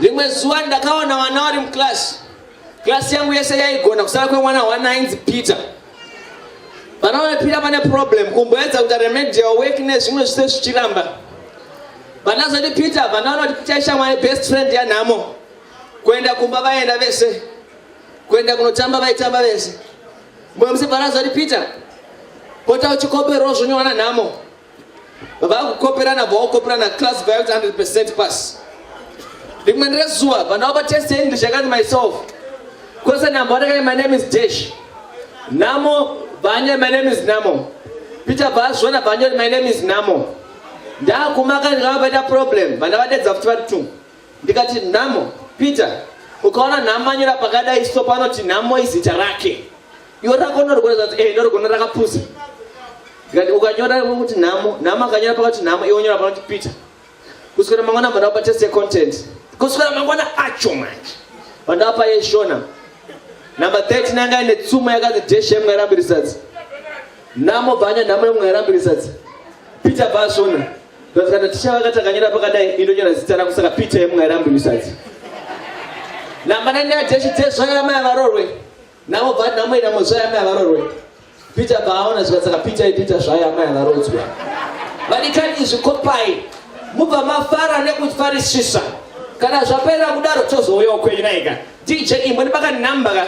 Rimwe zuva ndakaona vana vari muclass. Class yangu yese yaigona kusara kwemwana one ainzi Peter. Vana vamepira pane problem kumboedza kuita remedial work nezvimwe zvise zvichiramba. Vana zoti Peter vana vanoti Peter ishamwari best friend yanhamo. Kuenda kumba vaenda vese. Kuenda kunotamba vaitamba vese. Mwe musibvara zoti Peter pota uchikomberwa zvonywana nhamo. vakukoperana bvaokoperana class vayoti 100 percent pass rimwe rezuva vana vaba test english yakati myself kwese namba watakai my name is dash namo vanya my name is namo peter bvaazviona vanyoti my name is namo ndakumaka ndikava vaita problem vana vadedza futi vari two ndikati namo peter ukaona nhamo anyora pakadai so panoti nhamo izita rake iwe rako norigona zvanzi e eh, norigona rakapusa ndikati ukanyora kuti nhamo nhamo akanyora pakati nhamo iwe unyora panoti peter kuswera mangwana bva ndapa test yecontent kuswera mangwana acho manje bva ndapa yeshona number 13 anga ine tsuma yakanzi deshe mwairambirisadzi nhamo bvanya nhamo yemwairambirisadzi peter bva asvona ndikazikana ticha vakati akanyora pakadai indonyora zita rako saka peter yemwairambirisadzi number 9 yadeshe deshe zvanyora mai varorwe Navo bva nhamo inamo zvayo amai havarorwe. Peter bva aona zvika saka Peter iPeter zvayo amai havarodzwe. Vadikani izvi kopai mubva mafara nekufarisisa. Kana zvapera kudaro tozouya ukwenyu naika. DJ imwe ndibaka number ka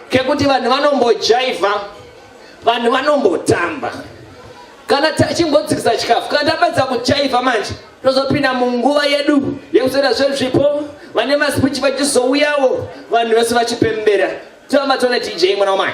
kekuti vanhu vanombojaiva vanhu vanombotamba kana chimbodzikisa chikafu kana tapedza kuchaiva manje tozopinda munguva yedu yekuzoita zvezvipo vane masipichi vachizouyawo vanhu vese vachipembera tiamba tone tj mwana wamai